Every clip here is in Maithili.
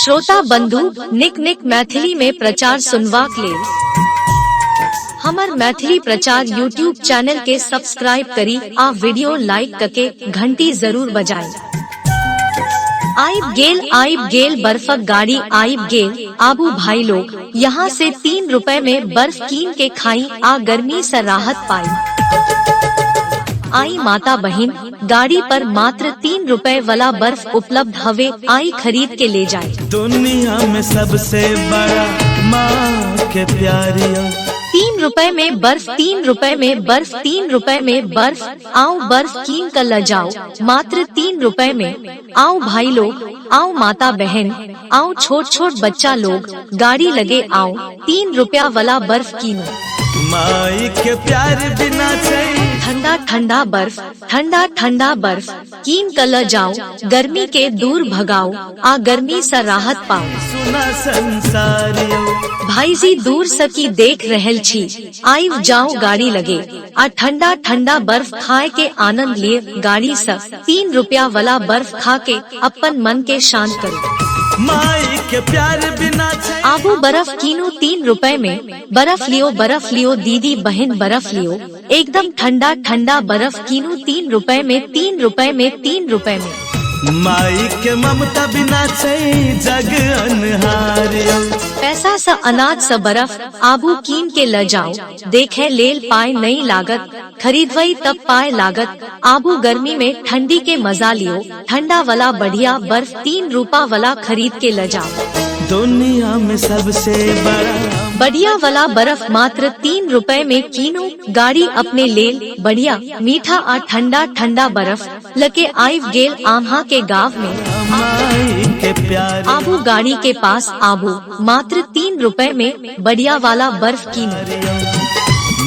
श्रोता बंधु निक निक मैथिली में प्रचार सुनवाक लेल हमर मैथिली प्रचार यूट्यूब चैनल के सब्सक्राइब करी आ वीडियो लाइक करके घंटी जरूर बजाएं आइब गेल आइब गेल बर्फक गाड़ी आइब गेल आबू भाई लोग यहाँ से तीन रुपए में बर्फ कीन के खाई आ गर्मी से राहत पाई आई माता बहन गाड़ी पर मात्र तीन रुपए वाला बर्फ उपलब्ध हवे आई खरीद के ले जाए दुनिया में सबसे बड़ा माँ के प्यारिया तीन रुपए में बर्फ तीन रुपए में बर्फ तीन रुपए में बर्फ आओ बर्फ कीन कर ल जाओ मात्र तीन रुपए में आओ भाई लोग आओ माता बहन आओ छोट छोट बच्चा लोग गाड़ी लगे आओ तीन रुपया वाला बर्फ कीनो माई के प्यार बिना सही ठंडा ठंडा बर्फ ठंडा ठंडा बर्फ कीन कल जाओ गर्मी के दूर भगाओ आ गर्मी से राहत पाओ सुना संसार यो भाई जी दूर सकी देख रहल छी आइव जाओ गाड़ी लगे आ ठंडा ठंडा बर्फ खाए के आनंद लिए गाड़ी स तीन रुपया वाला बर्फ खा के अपन मन के शांत करो माई के प्यार बिना छै आबू बर्फ कीनो तीन रुपए में बर्फ लियो बर्फ लियो दीदी बहन बर्फ लियो एकदम ठंडा ठंडा बर्फ कीनो तीन रुपए में तीन रुपए में तीन रुपए में माई के ममता बिना छै जग अनहार यौ पैसा स अनाज स बर्फ आबू कीन के ल जाओ देखे लेल पाए नहीं लागत खरीदवई तब पाए लागत आबू गर्मी में ठंडी के मजा लियो ठंडा वाला बढ़िया बर्फ तीन रूपा वाला खरीद के ल जाओ दुनिया में सबसे बड़ा बढ़िया वाला बर्फ मात्र तीन रुपए में कीनो गाड़ी अपने लेल बढ़िया मीठा आ ठंडा ठंडा बर्फ लके आइव गेल आम्हा के गांव में माई के प्यारे आबू गाड़ी के पास आबू मात्र तीन रुपए में बढ़िया वाला बर्फ की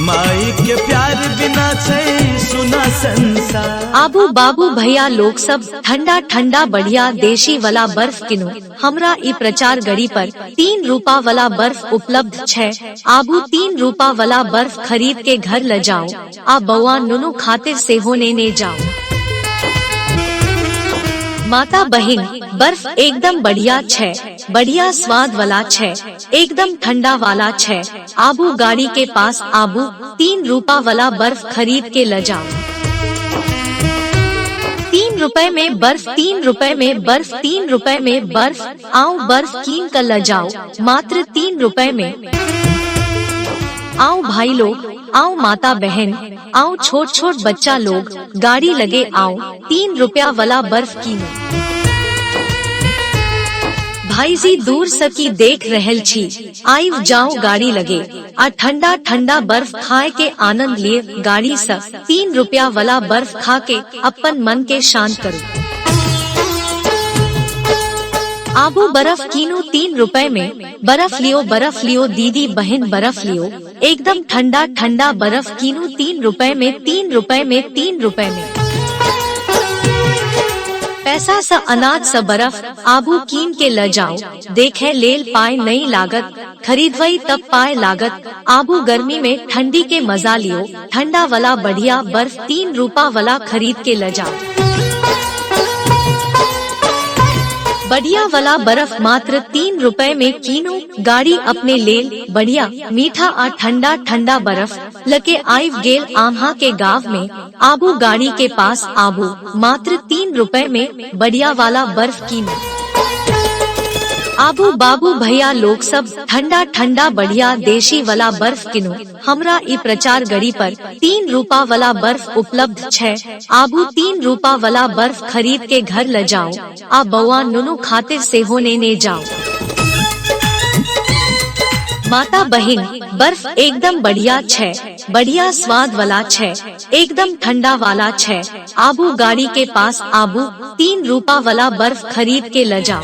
माई के प्यार बिना छै सुना संसार आबू बाबू भैया लोग सब ठंडा ठंडा बढ़िया देशी वाला बर्फ किनो हमरा ई प्रचार गड़ी पर तीन रूपा वाला बर्फ उपलब्ध छै आबू तीन रूपा वाला बर्फ खरीद के घर ले जाओ आ बौआ नुनु खातिर से होने ने जाओ माता बहिन बर्फ एकदम बढ़िया छे बढ़िया स्वाद वाला छे एकदम ठंडा वाला छे आबू गाड़ी के पास आबू तीन रूपा वाला बर्फ खरीद के ल जाओ तीन रुपए में बर्फ तीन रुपए में बर्फ तीन रुपए में बर्फ आओ बर्फ कीन कर ल जाओ मात्र तीन रुपए में आओ भाई लोग आओ माता बहन आओ छोट छोट बच्चा लोग गाड़ी लगे आओ तीन रुपया वाला बर्फ की भाई जी दूर सकी देख रहल छी आई जाओ गाड़ी लगे आ ठंडा ठंडा बर्फ खाए के आनंद लिए गाड़ी से तीन रुपया वाला बर्फ खा के अपन मन के शांत करो आबू बर्फ कीनू तीन रुपए में बर्फ लियो बर्फ लियो दीदी बहन बर्फ लियो एकदम ठंडा ठंडा बर्फ कीनू तीन रुपए में तीन रुपए में तीन रुपए में पैसा स अनाज स बर्फ आबू कीन के ल जाओ देखे लेल पाए नहीं लागत खरीदवई तब पाए लागत आबू गर्मी में ठंडी के मजा लियो ठंडा वाला बढ़िया बर्फ तीन रूपा वाला खरीद के ले जाओ बढ़िया वाला बर्फ मात्र तीन रुपए में कीनो गाड़ी अपने लेल बढ़िया मीठा आ ठंडा ठंडा बर्फ लके आइव गेल आम्हा के गांव में आबू गाड़ी के पास आबू मात्र तीन रुपए में बढ़िया वाला बर्फ कीनो आबू बाबू भैया लोग सब ठंडा ठंडा बढ़िया देशी वाला बर्फ किनो हमरा ई प्रचार गड़ी पर तीन रूपा वाला बर्फ उपलब्ध छै आबू तीन रूपा वाला बर्फ खरीद के घर ल जाओ आ बौआ नुनु खातिर से होने ने जाओ माता बहिन बर्फ एकदम बढ़िया छै बढ़िया स्वाद वाला छै एकदम ठंडा वाला छै आबू गाड़ी के पास आबू तीन रूपा वाला बर्फ खरीद के ले जाओ